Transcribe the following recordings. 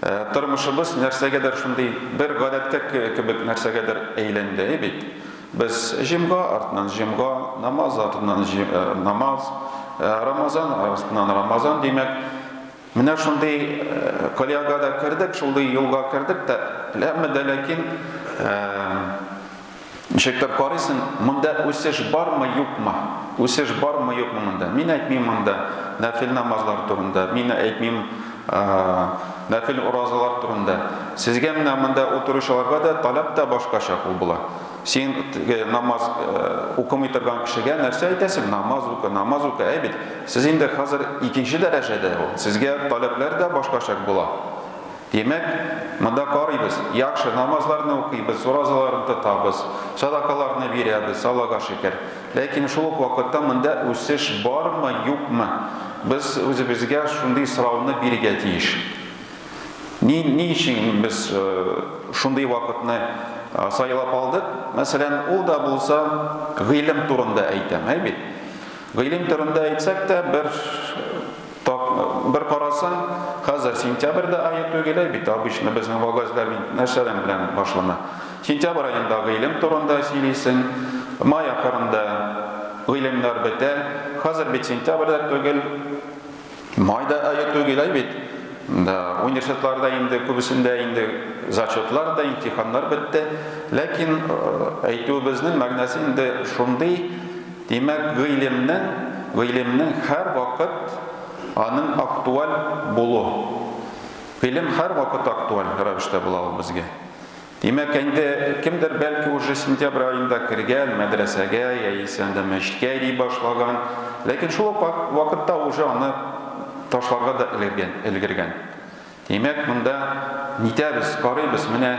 Тормышыбыз нәрсәгәдер шундый бер гадәткә кебек нәрсәгәдер әйләнде бит. Без җомга артыннан җомга, намаз артыннан намаз, Рамазан артыннан Рамазан, димәк, менә шундый колягада кердек, шундый юлга кердек тә, ләммә дә ләкин, Ничектер карыйсың, монда үсеш бармы, юкмы? Үсеш бармы, юкмы монда? Мин әйтмим монда нәфил намазлар турында, мин әйтмим нәфил уразалар турында. Сезгә менә монда утыручыларга да таләп тә башкача кул була. Син намаз укымый торган кешегә нәрсә әйтәсең? Намаз укы, намаз укы. Әй бит, сез инде хәзер икенче дәрәҗәдә ул. Сезгә таләпләр дә башкача була. Димәк, монда карыйбыз, яхшы намазларны укыйбыз, уразаларны тотабыз, садакаларны бирәбез, Аллага шөкер. Ләкин шул ук вакытта монда үсеш бармы, юкмы? Без үзебезгә шундый сорауны бирергә тиеш. Ни, ни өчен без шундый вакытны сайлап алдык? Мәсәлән, ул да булса гыйлем турында әйтәм, әй бит. Гыйлем турында әйтсәк тә, бер бер карасаң, хәзер сентябрь дә ае түгел ә бит, обычно безнең вагазьләр нәрсәләр белән башлана. Сентябрь аенда гыйлем турында сөйлисең, май ахырында гыйлемнәр бетә. Хәзер бит сентябрь дә түгел, Май да ае түгел ай бит. Да, университетларда инде күбесендә инде зачетлар да, имтиханнар бетте. Ләкин әйтүебезнең мәгънәсе инде шундый, димәк, гыйлемнең, гыйлемнең һәр вакыт аның актуаль булу. Гыйлем һәр вакыт актуаль рәвештә була ул безгә. Димәк, инде кемдер бәлки уже сентябрь аенда кергән, мәдрәсәгә яисә анда мәчеткә йөри башлаган, ләкин шул ук вакытта уже аны ташларга да элгергән, элгергән. Димәк, монда нитәбез, карыйбыз, менә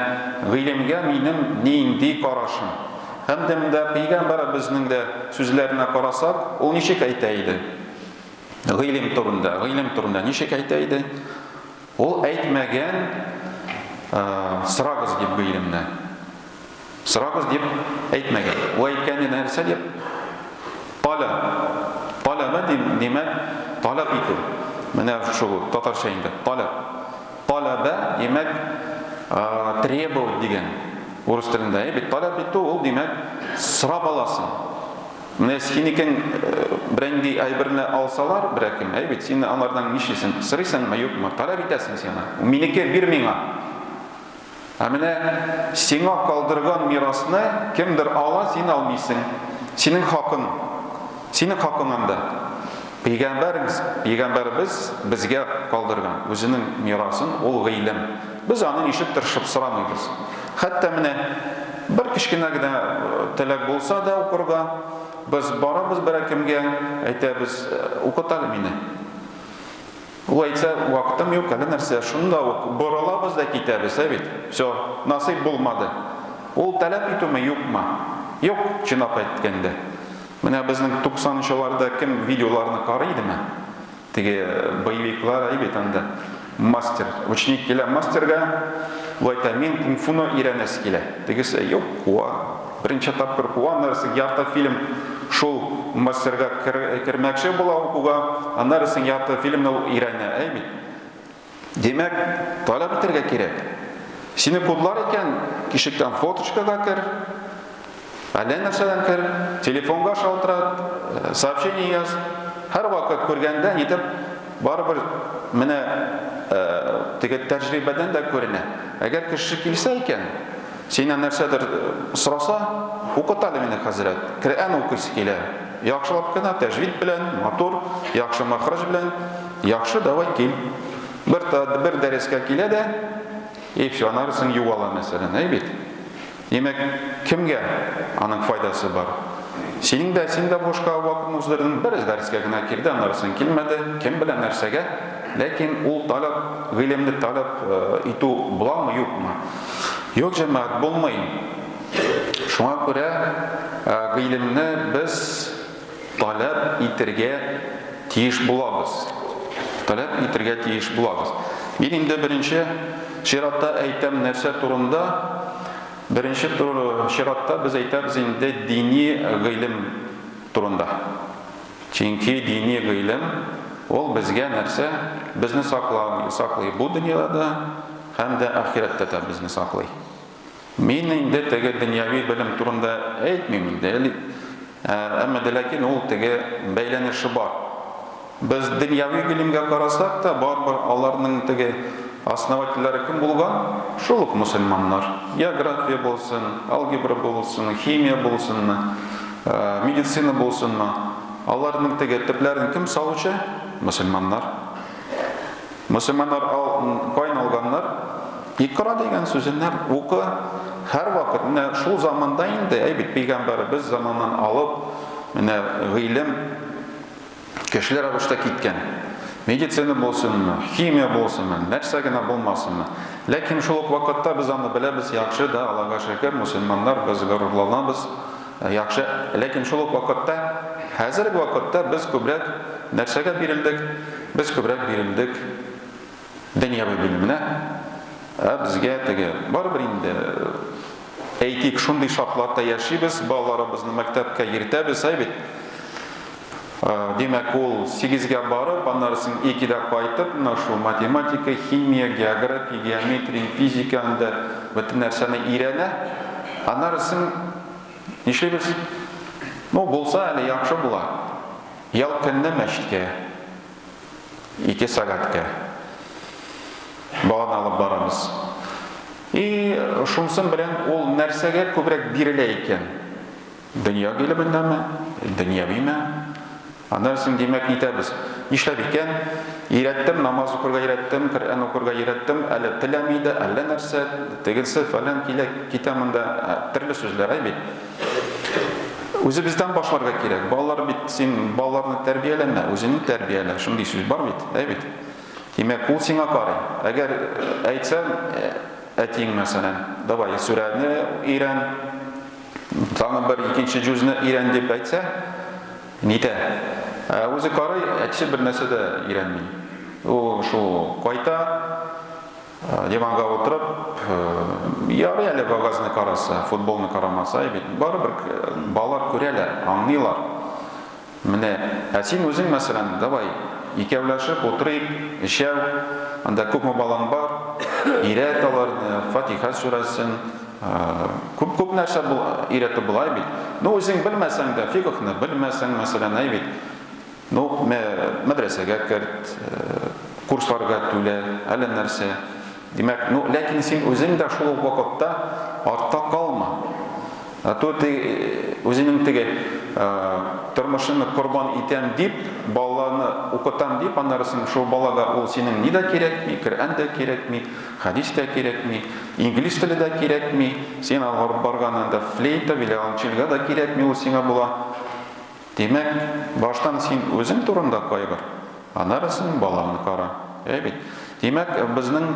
гыйлемгә минем нинди карашым. Һәм дә монда пәйгамбәребезнең дә сүзләренә карасак, ул ничек әйтә иде? Гыйлем турында, гыйлем турында ничек әйтә иде? Ул әйтмәгән, сорагыз дип гыйлемне. Сорагыз дип әйтмәгән. Ул әйткәне нәрсә дип? Таләп. Таләбә димәк, таләп итү. Менә шул татарча инде, таләп. Таләбә димәк, требовать дигән урыс телендә. Бит таләп итү ул димәк, сорап аласың. Менә синекен бренди әйберне алсалар, берәкем, әй бит, син алардан нишлисең? Сырыйсыңмы, юкмы? Таләп итәсең син аны. Минеке бир миңа. Ә менә сиңа калдырган мирасны кемдер ала, син алмыйсың. Синең хакың. Синең хакың анда. Пәйгамбәребез, пәйгамбәребез безгә калдырган үзенең мирасын, ул гыйлем. Без аны ничек тырышып сорамыйбыз. Хәтта менә бер кечкенә генә теләк булса да укырга, без барабыз берәкемгә, әйтәбез, Укыт әле мине. Ул әйтсә, вакытым юк, әллә нәрсә, шунда ук борылабыз да китәбез, ә бит? Всё, насыйп булмады. Ул таләп итүме, юкмы? Юк, чынлап әйткәндә. Менә безнең 90 нчыларда кем видеоларны карый идеме? Теге боевиклар әй бит анда. Мастер, ученик килә мастерга, лайта мин кунг-фуны өйрәнәсе килә. Тегесе, юк, куа. Беренче тапкыр куа, аннарысын ярты фильм шул мастерга кермәкче була укуга, аннарысын ярты фильмны ул өйрәнә, әй бит. Димәк, таләп итәргә кирәк. Сине кудлар икән, тишектән фоточкага кер, әллә нәрсәдән кер, телефонга шалтырат, э, сообщение яз. Һәрвакыт күргәндә нитеп барыбер менә э, теге тәҗрибәдән дә күренә. Әгәр кеше килсә икән, Синнән нәрсәдер сораса, укыт әле мине, хәзрәт, Коръән укыйсы килә, яхшылап кына, тәҗвид белән, матур, яхшы мәхрәҗ белән, яхшы, давай кил. Бер, бер дәрескә килә дә, и все, аннары соң югала, мәсәлән, әй бит. Димәк, кемгә аның файдасы бар? Синең дә, син дә бушка вакытны уздырдың, бераз дәрескә генә килде, аннары соң килмәде, кем белә нәрсәгә, ләкин ул таләп, гыйлемне таләп э, итү буламы, юкмы? Юк, җәмәгать, булмый. Шуңа күрә гыйлемне без таләп итергә тиеш булабыз. Таләп итергә тиеш булабыз. Мин инде беренче чиратта әйтәм нәрсә турында? Беренче чиратта без әйтәбез инде дини гыйлем турында. Чөнки дини гыйлем, ул безгә нәрсә? Безне саклау, саклый бу дөньяда да һәм дә ахирәттә дә безне саклый. Мин инде теге дөньяви белем турында әйтмим инде, әмма дә ләкин ул теге бәйләнеше бар. Без дөньяви гыйлемгә карасак та, барыбер аларның теге основательләре кем булган? Шул ук мөселманнар. География булсын, алгебра булсын, химия булсынмы? Медицина булсынмы, аларның теге төпләрен кем салучы? Мөселманнар. Мөселманнар ал, кайны алганнар? Икра дигән сүзеннәр, укы, һәрвакыт, менә шул заманда инде, әй бит, пигамбәребез заманнан алып, менә гыйлем, Көчле рәвештә киткән. Медицина булсынмы, химия булсынмы, нәрсә генә булмасынмы. Ләкин шул ук вакытта без аны беләбез, яхшы да, Аллага шөкер, мөселманнар, без горурланабыз, яхшы. Ләкин шул ук вакытта, хәзерге вакытта без күбрәк нәрсәгә бирелдек? Без күбрәк бирелдек Дөньяви белемне, ә безгә теге, барыбер инде, әйтик, шундый шартларда яшибез, балаларыбызны мәктәпкә йөртәбез, әй бит. Димәк, ул сигезгә барып, аннары соң икедә кайтып, менә шул математика, химия, география, геометрия, физика анда бөтен нәрсәне өйрәнә. Аннары соң нишлибез? Ну, булса әле яхшы була. Ял көнне мәчеткә. Ике сәгатькә баланы алып барамыз. И шунсын белән ул нәрсәгә күбрәк бирелә икән? Дөнья гыйлеменнәме? Дөньявиме? Аннан соң димәк итәбез. Нишләп икән? Ирәттем, намаз укырга ирәттем, Коръән укырга ирәттем, әле теләми дә, әллә нәрсә, тегесе фәлән килә, китә монда, ә, төрле сүзләр әй бит. Үзебездән башларга кирәк. Балалар бит, син балаларны тәрбияләмә, үзеңне тәрбиялә. Шундый сүз бар бит, әй бит. Димәк, ул сиңа карый. Әгәр әйтсәң, әтиң мәсәлән, давай сүрәне өйрән, тагын бер икенче җүзне өйрән дип әйтсә, нитә? Ә үзе карый, әтисе бер нәрсә дә өйрәнми. Ул шул кайта, Диванга утырып, ярый әле вагазны караса, футболны карамаса, бит барыбер балалар күрәләр, аңлыйлар. Менә, ә син үзең мәсәлән, давай, икәүләшеп утырыйк, өчәү, анда күпме балаң бар, өйрәт аларны, Фатиха сүрәсен, күп-күп нәрсә өйрәтеп була бит. Ну, үзең белмәсәң дә, фикхны белмәсәң, мәсәлән, әй бит, Ну, мә, мәдрәсәгә керт, курсларга түлә, әллә нәрсә. Димәк, ну, ләкин син үзең дә шул ук вакытта артта калма. А то ты үзеңнең теге тормышыңны корбан итәм дип, баланы укытам дип, аннары син шул балага ул синең ни дә кирәкми, Коръән дә кирәкми, хәдис тә кирәкми, инглиз теле дә кирәкми, син алып барган анда флейта, виолончельга да кирәкми, ул сиңа була. Димәк, баштан син үзең турында кайгыр, аннары син балаңны кара. Әй бит. Димәк, безнең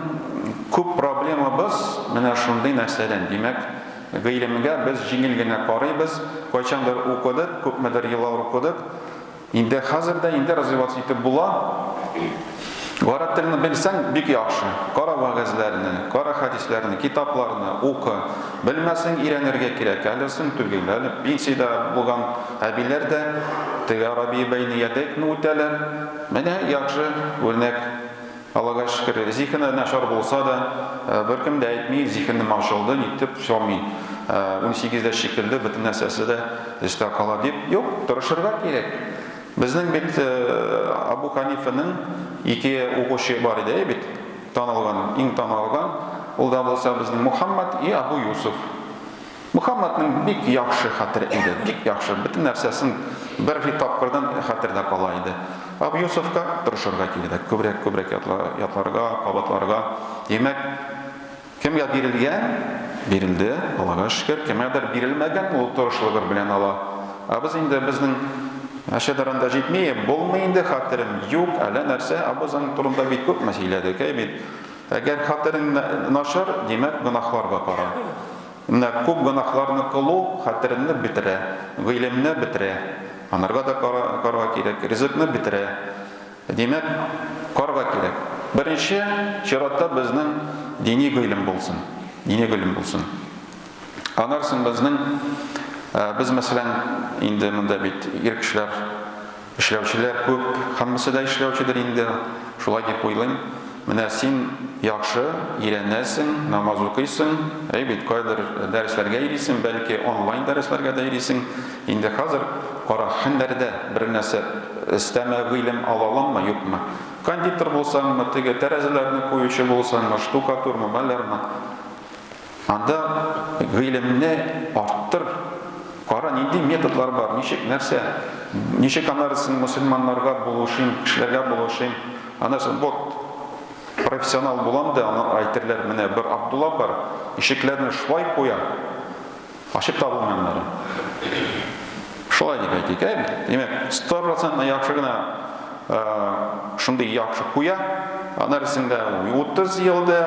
күп проблемабыз менә шундый нәрсәдән. Димәк, гыйлемгә без җиңел генә карыйбыз, кайчандыр укыдык, күпмедер еллар укыдык. Инде хәзер дә инде развиваться итеп була. Гарәп телен белсәң, бик яхшы. Кара вәгазьләрне, кара хәдисләрне, китапларны укы. Белмәсәң, өйрәнергә кирәк. Әле соң түгел, әле пенсиядә булган әбиләр дә теге Арабия бәйниядәкне үтәләр. Менә яхшы үрнәк. Аллага шөкер, зиһене начар булса да, беркем дә әйтми, зиһенем ачылды, нитеп чамый. Унсигездә шикелле, бөтен нәрсәсе дә өстә кала дип. Юк, тырышырга кирәк. Безнең бит Абу Ханифаның ике укучы бар иде, әй бит, танылган, иң танылган, ул да булса безнең Мухаммад и Абу Юсуф. Мухаммадның бик яхшы хәтере иде, бик яхшы, бөтен нәрсәсен бер тапкырдан хәтердә кала иде. Абу Юсуфка тырышырга кирәк, күбрәк-күбрәк ятларга, кабатларга. Димәк, Кемгә бирелгән, бирелде, Аллага шөкер, кемгәдер бирелмәгән, ул тырышлыгыр белән ала. Ә без инде, безнең әче дәрән дә җитми, булмый инде хәтерем юк, әллә нәрсә, ә без аның турында бик күпме сөйләдек, әй бит. Әгәр хәтерең начар, димәк, гөнаһлар да кара. Менә күп гөнаһларны кылу хәтереңне бетерә, гыйлемне бетерә, анарга да карарга кирәк, ризыкны бетерә. Димәк, карга кирәк. Беренче чиратта безнең дини гыйлем булсын. Дини гыйлем булсын. Аннан соң безнең, без, мәсәлән, инде монда бит ир кешеләр, эшләүчеләр күп, һәммәсе дә эшләүчедер инде, шулай дип уйлыйм. Менә син яхшы өйрәнәсең, намаз укыйсың, әй бит, кайдыр дәресләргә йөрисең, бәлки онлайн дәресләргә дә йөрисең. Инде хәзер кара, һәннәрдә бер нәрсә өстәмә гыйлем ала аламмы, юкмы? Кондитер булсаңмы, теге тәрәзәләрне куючы булсаңмы, штукатурмы, малярмы? Анда гыйлемне арттыр, кара, нинди методлар бар, ничек, нәрсә, ничек анарысын мөселманнарга булышыйм, кешеләргә булышыйм, анарысын, вот, профессионал булам да, аңа әйтерләр, менә бер Абдулла бар, ишекләрне шулай куя, Ачып та булмый аннары. Шулай дип әйтик, ә? Димәк, 100% яхшы гына шундый яхшы куя, ана рәсемдә 30 елда,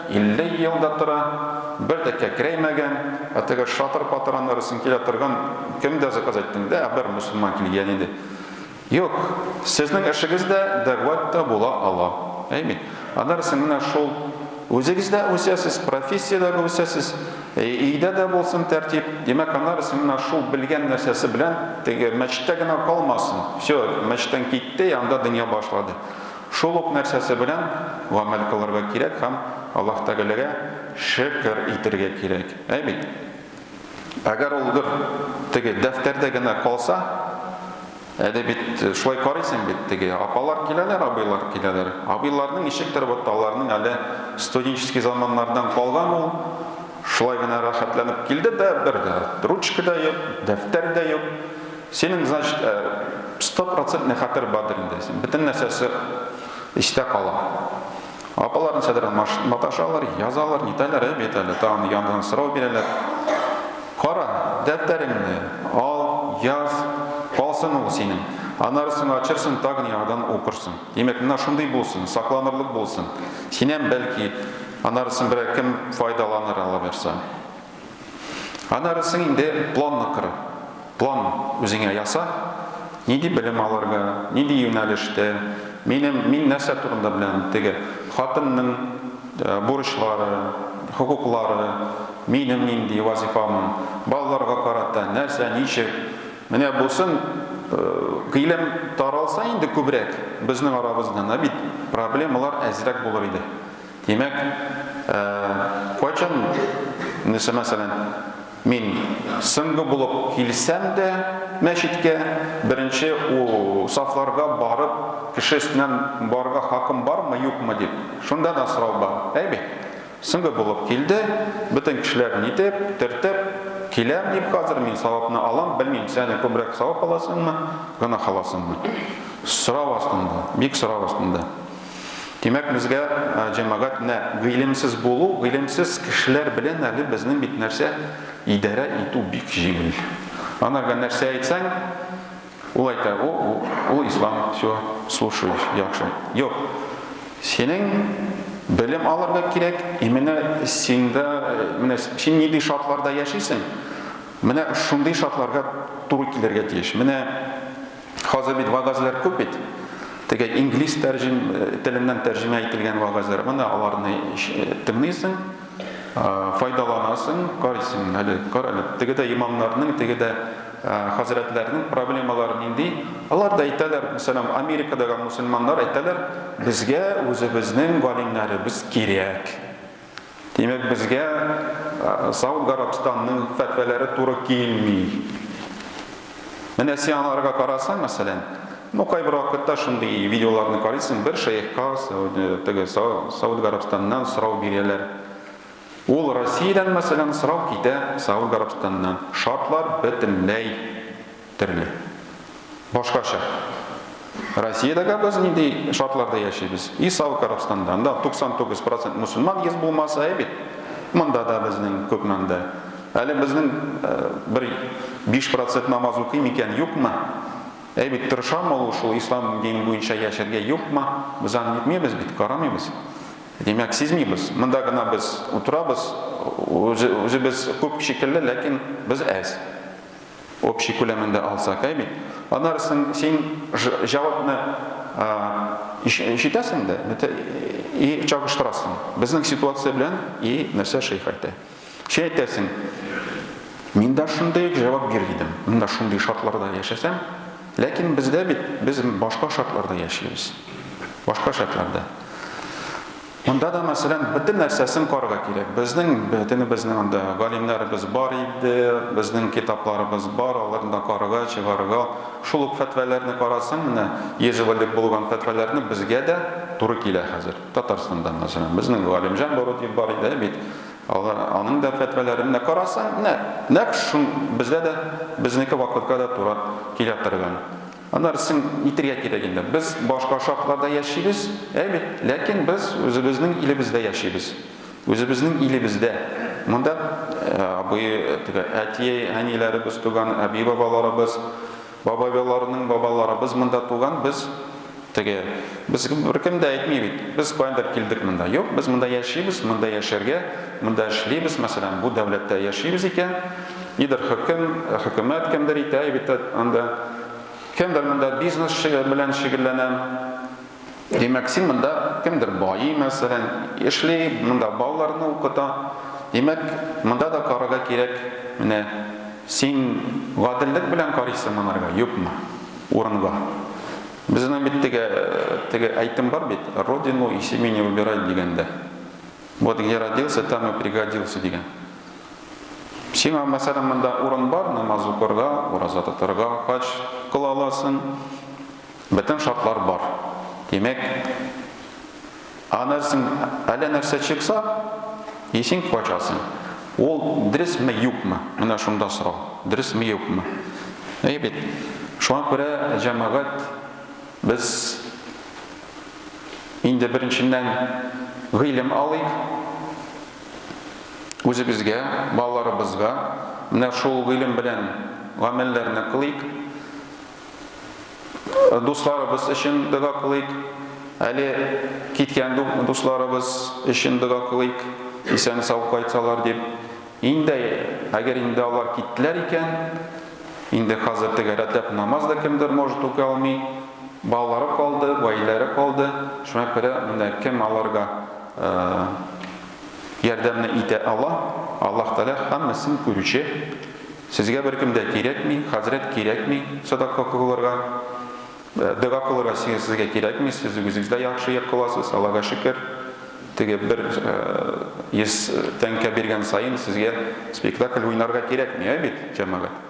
50 елда тора, бер дә кәкрәймәгән, ә теге шатыр-патыр ана рәсем килә торган, кемдә заказ әйттең дә, бер мусульман килгән иде. Юк, сезнең эшегез дә дәгъват та була ала. Әйми. Аннары син менә шул үзегез дә үсәсез, профессиядә дә үсәсез, өйдә дә булсын тәртип. Димәк, аннары син менә шул белгән нәрсәсе белән теге мәчеттә генә калмасын. Всё, мәчеттән китте, анда дөнья башлады. Шул ук нәрсәсе белән гамәл кылырга кирәк һәм Аллаһ Тәгаләгә шөкер итергә кирәк. Әйбит. Әгәр ул бер теге дәфтәрдә генә калса, әле бит шулай карыйсың бит, теге апалар киләләр, абыйлар киләләр. Абыйларның ничектер вот аларның әле студенческий заманнардан калган ул, шулай гына рәхәтләнеп килде дә, бер дә ручка да юк, дәфтәр дә юк. Синең, значит, э, стопроцентный хәтер бардыр инде. Бөтен нәрсәсе истә кала. Апалар ничәдер маташалар, язалар, нитәләр, әй бит әле, тагын яңадан сорау бирәләр. Кара, дәфтәреңне ал, яз, калсын ул синең. Аннары соң ачырсың, тагын яңадан укырсың. Димәк, менә шундый булсын, сакланырлык булсын. Синнән, бәлки, аннары соң берәр кем файдаланыр, аллабирса. Аннары соң инде планны кор. План үзеңә яса. Нинди белем алырга, нинди юнәлештә, минем, мин нәрсә турында беләм, теге хатынның бурычлары, хокуклары, минем нинди вазифамын, балаларга карата нәрсә, ничек. Менә бусын гыйлем таралса инде күбрәк безнең арабыздан, ә бит проблемалар әзрәк булыр иде. Димәк, кайчан, нәрсә мәсәлән, мин соңгы булып килсәм дә мәчеткә, беренче сафларга барып, кеше өстеннән барырга хакым бармы, юкмы дип, шунда да сорау бар, әйбит. Соңгы булып килде, бөтен кешеләр нитеп, төртеп, киләм дип хәзер, мин савапны алам, белмим, сәне күбрәк савап аласыңмы, гөнаһ аласыңмы. Сорау астында, бик сорау астында. Димәк, безгә җәмәгать нә гыйлемсез булу, гыйлемсез кешеләр белән әле безнең бит нәрсә идарә итү бик җиңел. Анарга нәрсә әйтсәң, ул әйтә, о, ул ислам, все, слушай, яхшы. Юк, синең белем алырга кирәк, и менә синдә, менә син нинди шартларда яшисең, менә шундый шартларга туры килергә тиеш. Менә Хәзер бит вәгазьләр күп бит. Теге инглиз тәрҗем теленнән тәрҗемә ителгән вәгазьләр. Менә аларны тыңлыйсың, файдаланасың, карыйсың. Әле кар әле. Теге дә имамнарның, теге дә хәзрәтләрнең проблемалары нинди? Алар да әйтәләр, мәсәлән, Америкадагы мусульманнар әйтәләр, безгә үзебезнең галимнәребез кирәк. Димәк, безгә Сауд Гарабстанның фәтвәләре туры килми. Менә син аларга карасаң, мәсәлән, ну, кайбер вакытта шундый видеоларны карыйсың, бер шәехка теге Сауд Гарабстаннан сорау бирәләр. Ул Россиядән, мәсәлән, сорау китә Сауд Гарабстаннан. Шартлар бөтенләй терли. Башкача. Россиядә гә без нинди шартларда яшибез? И Саудка Арабстанда. Анда 99 процент мөселман йөз булмаса, әй бит. Монда да безнең күпме анда. Әле безнең бер биш процент намаз укый микән, юкмы? Әй бит, тырышамы ул шул ислам дине буенча яшәргә, юкмы? Без аны нитмибез бит, карамыйбыз. Димәк, сизмибез. Монда гына без утырабыз, үзе, үзебез күп шикелле, ләкин без әз. общий күләмендә алсак, әй бит. Аннары соң син җавапны ишетәсең дә, и чагыштырасың. Безнең ситуация белән и нәрсә шейх әйтә. Син әйтәсең, мин дә шундый ук җавап бир идем. Мин дә шундый шартларда яшәсәм, ләкин бездә бит без башка шартларда яшибез. Башка шартларда. Монда да, мәсәлән, бөтен нәрсәсен карарга кирәк. Безнең бөтенебезнең анда галимнәребез бар иде, безнең китапларыбыз бар, аларны да карарга, чыгарырга. Шул ук фәтвәләрне карасаң, менә йөз элек булган фәтвәләрне безгә дә туры килә хәзер. Татарстанда, мәсәлән, безнең Галимҗан Бородиев бар иде бит. Алар, аның да фәтвәләрен менә карасаң, менә нәкъ шул безгә дә, безнеке вакытка да туры килә торган. Аннары син әйтергә кирәк инде, без башка шартларда яшибез, әй бит, ләкин без үзебезнең илебездә яшибез. Үзебезнең илебездә. Монда абый, теге әти, әниләребез туган, әби бабаларыбыз, бабайларының бабаларыбыз монда туган, без теге без беркем дә әйтми бит. Без кайдыр килдек монда. Юк, без монда яшибез, монда яшәргә, монда эшлибез, мәсәлән, бу дәүләттә яшибез икән. Нидер хөкем, хөкүмәт кемдер итә бит анда. Кемдер монда бизнес белән шөгыльләнә. Димәк, син монда кемдер байый, мәсәлән, эшли, монда балаларны укыта. Димәк, монда да карарга кирәк. Менә син гаделлек белән карыйсың монарга, юкмы? Урынга. Безнең бит теге теге әйтем бар бит, родину и семени выбирать дигәндә. Вот где родился, там и пригодился дигән. Сиңа, мәсәлән, монда урын бар, намаз укырга, ураза тотарга, хаҗ кыла аласың, бөтен шартлар бар. Димәк, а нәрсең, әллә нәрсә чыкса, исең качасың. Ул дөресме, юкмы? Менә шунда сорау. Дөресме, юкмы? Әйе бит. Шуңа күрә җәмәгать без инде беренченнән гыйлем алыйк, үзебезгә, балаларыбызга менә шул гыйлем белән гамәлләрне кылыйк, дусларыбыз өчен дога кылыйк, әле киткән дусларыбыз өчен дога кылыйк, исән-сау кайтсалар дип. Инде, әгәр инде алар киттеләр икән, инде хәзер тәгәрәтләп намаз да кемдер может укый алмый, Балалары калды, гаиләләре калды, шуңа күрә менә кем аларга ярдәмне итә ала, Аллаһ Тәгалә һәммәсен күрүче, сезгә беркем дә кирәкми, хәзрәт кирәкми, садака кылырга, дога кылырга сезгә кирәкми, сез үзегез дә яхшы кыласыз, Аллага шөкер, теге бер 100 тәңкә биргән саен сезгә спектакль уйнарга кирәкми, ә бит, җәмәгать?